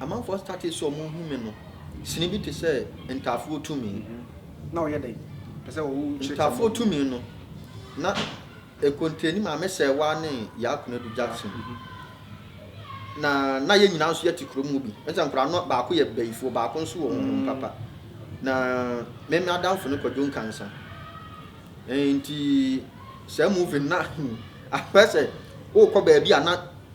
Amanfoɔ startee sɛ ɔmo hu me no, sini bi te sɛ ntaafoɔ tumi. Na ɔyɛ dɛn? Pɛ sɛ ɔwo nkyerɛkyerɛ. Ntaafoɔ tumi no, na ɛkonteeni Maame Sɛɛwaa ne Yaa Konadu Jackson. Na na yɛn nyinaa nso yɛte kurom hɔ bi. Ɛne sɛ nkwadaa no baako yɛ bayifoɔ, baako nso wɔ honhom papa. Na me me adamfo ne Kwadwo Nkansa. Nti saa movie no na ahwɛ sɛ wokɔ baabi a na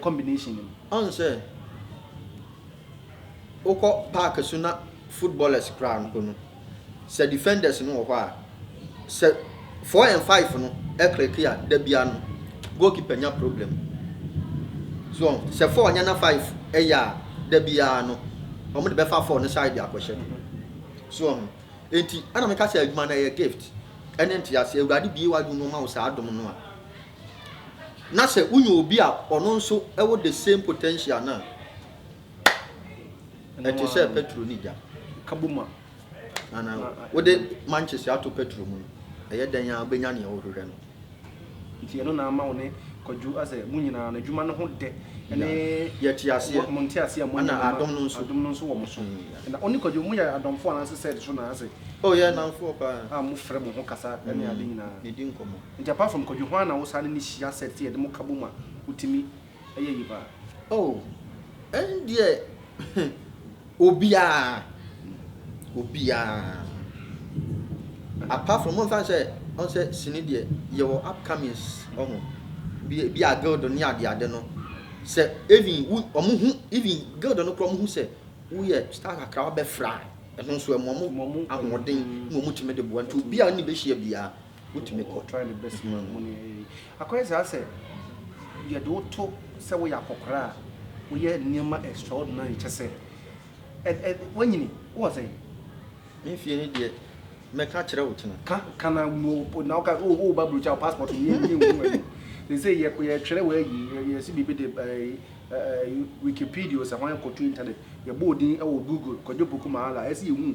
combination no mu. Ɔn sɛ wokɔ park so na footballers koraa mpo no sɛ defenders no wɔ hɔ a sɛ four and five no clicki a da biara no goalkeeper nya problem. So ɔn sɛ four nyɛ na five yɛ a da biara no wɔn de bɛfa four no side akɔhyɛ. So ɔn nti ɛna meka sɛ adwuma no ɛyɛ gift ɛne ntease. Awurade bue w'adwene mu ɔma wo saa adom no a na sɛ wonya obi a ɔno nso wɔ the same potential no a, ɛte sɛ petro ne gya. Kabom a. Ana wode mankyese ato petro mu no, ɛyɛ dɛn a wobɛnya nea wohwehwɛ no? Nti ɛno na ama wo ne Kwadwo asɛ mo nyinaa no adwuma no ho dɛ ne yɛte aseɛ, mo nte aseɛ a mo nyinaa adom no nso adom no nso wɔ mo so. Na ɔne Kwadwo mo yɛ adɔmfo anaasɛ sɛ so na asɛ? Oh yɛ nnamfoɔ paa. A mo frɛ mo ho kasa ne ade nyinaa. Ne di nkɔmmɔ. Nti apart from Kwadwo hwan na wo saa ne no hyia set sɛ yɛde mo ka bom a wotumi yɛ yie paa? Oh ɛndeɛ obiaa obiaa apart from momfa nsɛ ɔhu sɛ sini deɛ yɛwɔ upcomings ɔho bi bi a guild ne ade ade no sɛ even wo ɔmo hu even guild no koraa ɔmo hu sɛ woyɛ star kakra wabɛfra a ɛno nso ɛma ɔmo ahoɔden na ɔmo tumi de boa nti obiaa ɔne bɛhyia biaa Wotumi kɔ try the best man mu ne ɛyɛ yi. Akɔyɛ saa sɛ yɛde wo to sɛ woyɛ akɔkora a woyɛ nneɛma extraordinary kyɛ sɛ ɛ ɛ wanyini wowɔ sɛn? Me fie no deɛ mɛka akyerɛ wo kyena. Ka ka na wo o na woka o o ba brokyi a passport no yɛ yɛ nhu ɛno sese yɛ yɛ twerɛ wɔ ayi yɛ yɛ si biribi de ɛɛ ɛɛ wikipedia sɛ hwan kɔ to internet yɛ bɔ odin ɛwɔ google kɔgye poku maala ɛsi yɛ hu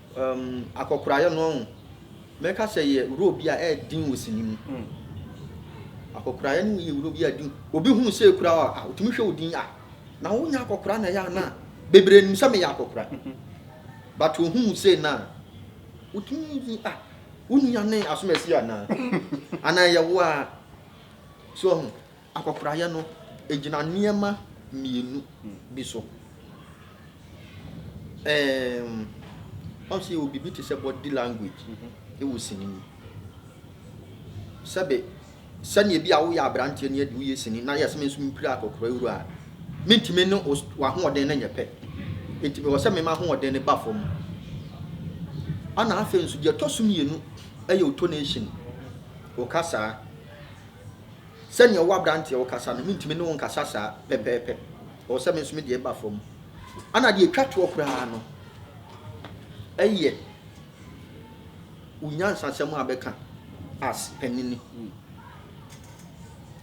Umm akɔkoraeɛ no ɔho mɛka sɛ yɛ wuro bi a ɛɛden wɔ sini mu. Akɔkoraeɛ no yɛ wuro bi a ɛden. Obi hu sɛ ekura wo a otumi hwɛ wo din ah na wo nyɛ akɔkora na ɛyɛ anaa? Bebree nim sɛ me yɛ akɔkora but ohu wo sei na otumi yi ah wo nua ne Asomasi anaa? Anaa ɛyɛ wo ara so ɔho. Akwakoraeɛ no gyina nneɛma mmienu bi so. Ɛɛm, ɔn sɛ yɛwɔ biribi te sɛ body language wɔ sini mu. Sɛbe, sɛdeɛ bi a woyɛ aberanteɛ ne adi woyɛ sini na yɛ sɛ me nso mepira akɔkora wura a, mentumi ne wo w'ahoɔden no nyɛ pɛ. Nti mewɔ sɛ mema ahoɔden no ba fam. Ana afei nso deɛ ɛtɔ so mmienu yɛ otonation, wo kasaa. Sɛnea wo aberanteɛ wo kasa no, mentumi ne wo nkasa saa pɛpɛɛpɛ. Ɛwɔ sɛ me nso me deɛ ba fam. Ana deɛ ɛtwa toɔ koraa no ɛyɛ wo nyansasɛm a bɛka as panini.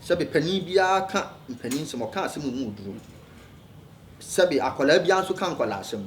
Sɛbe panin biara ka mpanin nsɛm, ɔka asɛm mu oduro. Sɛbe akwadaa biara nso ka nkwadaa asɛm.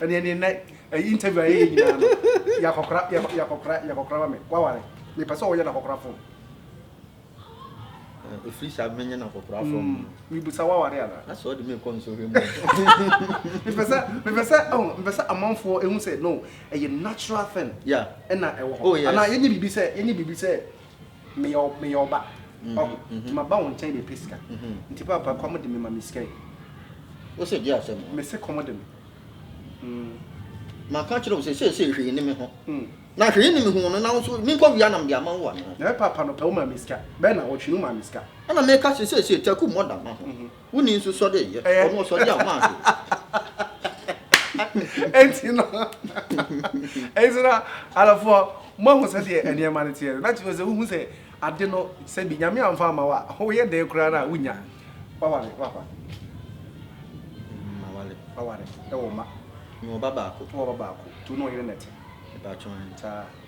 Ɛne ɛne nnɛ ɛyi interview a yɛyɛ nyinaa no yɛ akɔkora yɛ yɛ akɔkora yɛ akɔkora ma me waware me pɛ sɛ ɔyɛ na akɔkora fom. Ɛfiri saa menyɛ na akɔkora fom. Mm, me busa waware ana. Asɛ ɔde me kɔ nsɔhwɛ mu. Me pɛ sɛ me pɛ sɛ oh me pɛ sɛ amanfoɔ ehu sɛ no ɛyɛ natural thing. Yeah. Ɛna ɛwɔ hɔ. Oh yes. Ana yɛnyɛ bibi sɛ yɛnyɛ bibi sɛ meyɛ meyɛ ɔba mhm, ɔho mhm. nti maba wo nkyɛn bɛpɛ sika mhm. nti papa kɔm de me ma me sika yi wo sɛ gye asɛm me se kɔm de me mm. maka kyerɛ wo sɛ seesei hwee ne me ho mm. na hwee ne me ho no na wo so menkɔ wia nam de ama wo ano na papa no pɛ wo ma me sika bɛɛ na ɔtwe no ma me sika ɛna meka sɛ seesei taku mmɔ da ma ho mhm. Wonni nso sɔ de yɛ. Ɔno ɔsɔ de a ɔma ase. Enti no, enti no, adɔfoɔ, moahu sɛdeɛ nneɛma no teɛ no. Na kyerɛ sɛ wohu sɛ ade no, sɛ bi Nyame amfa amma wo a, woyɛ dɛn koraa no a, wonnya. Waware, wapa. Maware. Waware, wɔ mma. Mewɔ ba baako. Wowɔ ba baako. Nti wo ne ɔyere na ɛte. Mepaatwoo ahe? Saa.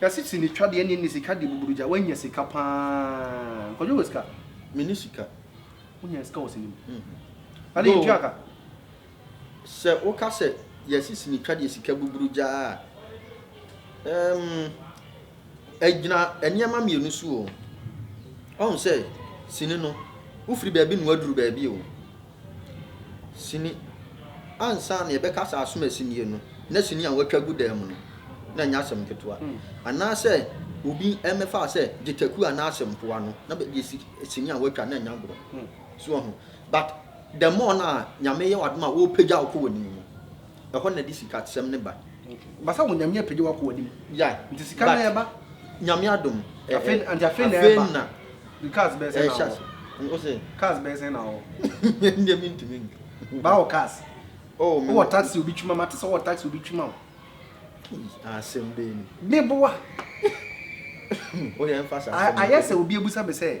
Na sisi ne twa deɛ ɛne ne sika deɛ buburu gya wanya sika paa nkɔdwo wɔ sika. Me ne sika. Wonya sika wɔ sini mu. Na deɛ ntua ka. Sɛ woka sɛ yɛ sisi ne twa deɛ sika buburu gya a ɛɛm ɛgyina nneɛma mmienu so o. Ɔhu sɛ sini no wofiri baabi na waduru baabi o. Sini, Ansa na yɛbɛka sɛ asomasi nie no, na sini a wɔatwa agu dan mu no, na ɛnyɛ asɛm ketewa. Anaasɛ obi mmɛfa sɛ gyataku anaa asɛmpoa no na bɛde asi sini a wɔatwa no, ɛnyɛ agorɔ. So woahu? But the more no a Nyame yɛ w'adom a ɔrepagya wo kɔ w'anim no, ɛhɔ na ɛde sika sɛm no ba. Basa wɔ nyame apagya wakɔ wanim yeah nti sika no ɛba nyame adom afei nti afei na ɛba na cars bɛsɛ na wɔ o sɛ cars bɛsɛ na wɔ ndɛ mi ntumi nka ba wɔ cars oh mi wɔ taxi obi twima ma te sɛ wɔ taxi obi twima o asɛm bɛɛ ni mi boa o yɛ nfa sa ayɛ sɛ obi ebusa mi sɛ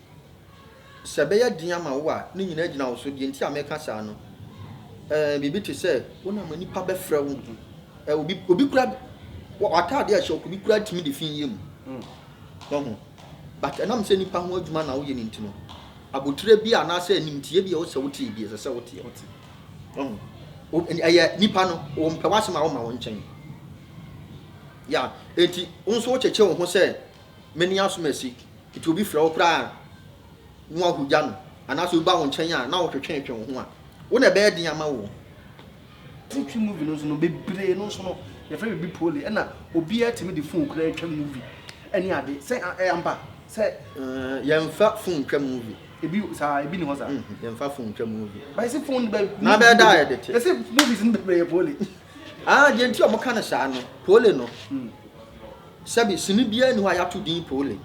sɛ ɛbɛyɛ den ama wo a, ne nyinaa gyina wo so. Deɛ nti a meka saa no, ɛɛ biribi te sɛ wonam nnipa bɛfrɛ wo. Ɛɛ obi obi kura w'ataadeɛ a ɛhyɛ obi kura tumi de fi yie mu. Ɔho but ɛnam sɛ nnipa ho adwuma na woyɛ no nti no, abotire bi anaasɛ animtie bi a wosɛ wote bi ɛsɛ sɛ woteɛ. Ɔho ɛyɛ nnipa no wɔn pɛ w'asɛm a wɔma wɔn nkyɛn. Ya eti nso wokyekyɛ wo ho sɛ mene asomasi. Enti obi frɛ wo koraa a, na woahodwa no, anaasɛ obi ba wo nkyɛn a, na wotwetweetwe wo ho a, wo na ɛbɛyɛ den ama wo. Titwi movie no nso no, bebree no nso no, yɛfrɛ biribi pole. Ɛna obiara tumi de fon koraa twa movie ne ade. Sɛ ɛyɛ ampa sɛ. Yɛmfa fon ntwa movie. Ebi saa, ebi ni hɔ saa. Yɛmfa fon ntwa movie. Ba yɛsi fon bɛ. Na bɛyɛ dɛ a yɛde te. Yɛsi movies no bebree yɛ pole. Ah, deɛ nti a wɔka no saa no, pole no. Sɛbe, sini biara nni hɔ a yɛato din Pole.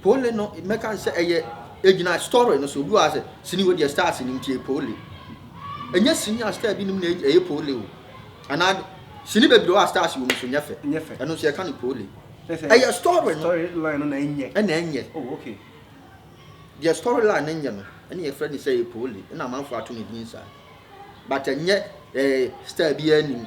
Pole no, mɛka no sɛ ɛyɛ, egyina story no so. Obi wɔ ha sɛ, sini wɔ deɛ stars nim nti ɛyɛ Pole. Ɛnyɛ sini a star bi nim na ɛyɛ Pole o. Anaa sini bebree wɔ a stars wɔ mu nso nyɛ fɛ. Nyɛ fɛ. Ɛno nso yɛka no Pole. Ɛyɛ story no. Story line no na ɛnyɛ. Ɛna ɛnyɛ. Oh, okay. Deɛ story line no nyɛ no, ɛna yɛfrɛ no sɛ ɛyɛ Pole. Ɛna amanfoɔ ato no din saa. But ɛnyɛ ɛɛ star biara nim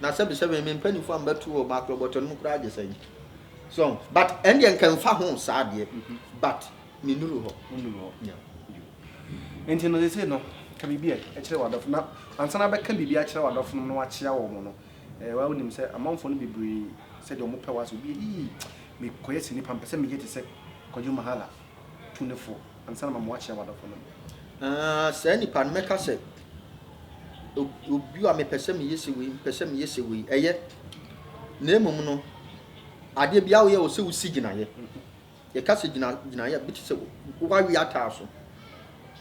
Na sɛbi sɛbi me mpanyinfoɔ ambɛto wɔ makorɔ bɔtɔ no mu koraa gye sɛn so but ɛndeɛ nka mfa ho saa deɛ but me nuru hɔ nuru hɔ yeah nti no sese no ka biribi a ɛkyerɛ w'adɔfo na ansa na bɛka biribi akyerɛ w'adɔfo no na wakyea wɔn no ɛɛ wa wonim sɛ amanfoɔ no bebree sɛdeɛ wɔn pɛ wɔ asɛ obi ii mekɔyɛ sɛ nipa mpɛ sɛ meyɛ te sɛ kwadwo mahala tu no fo ansa na mama woakyerɛ w'adɔfonom. Na saa nipa no, mɛka sɛ, Obi a mepɛ sɛ meyɛ sɛ wei, mepɛ sɛ meyɛ sɛ wei. Ɛyɛ. Na mmom no, adeɛ biara a woyɛ, ɛwɔ sɛ wosi gyinaeɛ. Yɛka sɛ gyina, gyinaeɛ a, bi te sɛ woawe ataaso.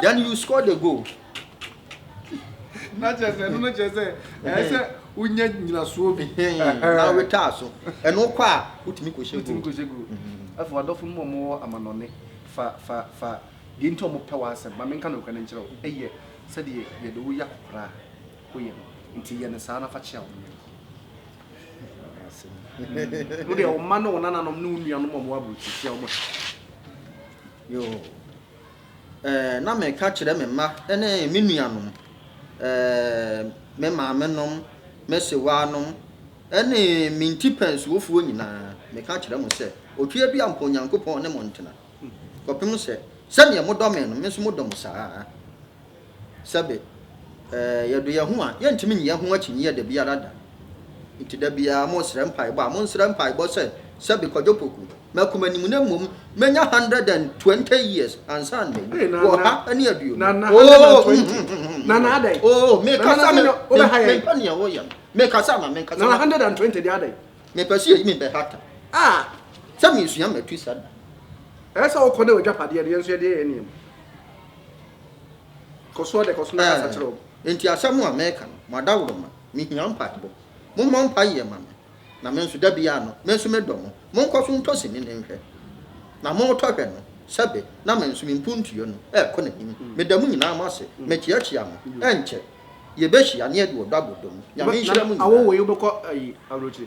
Then you score the goal. na kyerɛ sɛ ɛno no kyerɛ sɛ ɛyɛ sɛ wonya nyinasoɔ bi na wotwaa so ɛno kɔ a wotumi kɔhyɛ wotumi kɔhyɛ gu afei wadɔfo no mu wɔwɔ amanɔne fa fa fa deɛ nti ɔmo pɛ w'asɛm ma menka nokorɛ no nkyerɛ wo ɛyɛ sɛdeɛ yɛde wo yɛ akɔkora a woyɛ no nti yɛ no saa na fa kyea wo yere wo deɛ wo mma ne wo nananom ne wo nuanom a wɔwɔ aburokyiri kyea wɔn yoo Ɛɛ, na meka kyerɛ me mma ne me nuanom, ɛɛ, me maamenom, me sewaanom, ne me ntipɛnsofoɔ nyinaa, meka kyerɛ mo sɛ, Otweɛ bi ampa Onyankopɔn ne mo ntena, kɔpem sɛ, sɛdeɛ modɔ me no, me nso modɔ mo saa ara. Sɛbe, eh, yɛdɔ yɛn ho a, yɛrentumi nyi yɛn ho akyinnyeɛ da biara da. Enti da biara monsrɛ mpaebɔ a, monsrɛ mpaebɔ sɛ, Sɛbe Kwadwo Poku, m'akoma anim na mmom mɛnya hundred and twenty years ansa na mawu, ɔha ne aduonu. Oh, oh, oh, mekasa, me, me, mempɛ nea woyɛ no. Mekasa ma, mekasa ma. Mepɛ sɛ yɛyi me bɛhata sɛ mesua Matusa da. Ɛyɛ sɛ wokɔ dɛ w'agyapadeɛ deɛ nso yɛde yɛ nneɛma. Kɔ so ara kɔ so na kasa kyerɛ wɔn. Enti asɛm a meka no, mo adaworoma, mehia mpaebɔ. Mommɔ mpaeɛ mma me, na me nso, da biara no, me nso medɔ mo. Monkɔ so ntɔ sini no nhwɛ. Na moretɔ hwɛ no, sɛbe na me nso me mpuntuo no rekɔ n'anim. Meda mo nyinaa mo ase. Mekyeakyea mo. Ɛnkyɛ, yɛbɛhyia na yɛde ɔdɔ abɔ dɔ mu. Nyame nhyira mo nyinaa.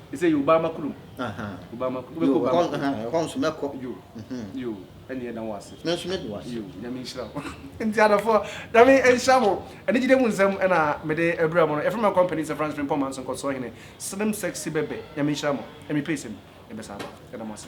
They say you Obama kurom. Aha. Obama kurom. Yo, Obama kurom. Aha, ɛhɔ nso mɛkɔ. Yo. Mhm. Yo, ɛne ɛda wo ase. Me nso me de wo ase. Yo, nyame nhyira wo. Nti adɔfo, nyame nhyira mo. Ɛne gyide mu nsɛm ɛna mede ɛbrɛ mo no. Ɛfrɛ ma company sɛ France Frimpong Manso nkɔsoɔ hene. Slim sexy bɛbɛ. Nyame nhyira mo. Ɛmi pay sɛm. Ɛbɛ saa ba. Ɛda mo ase.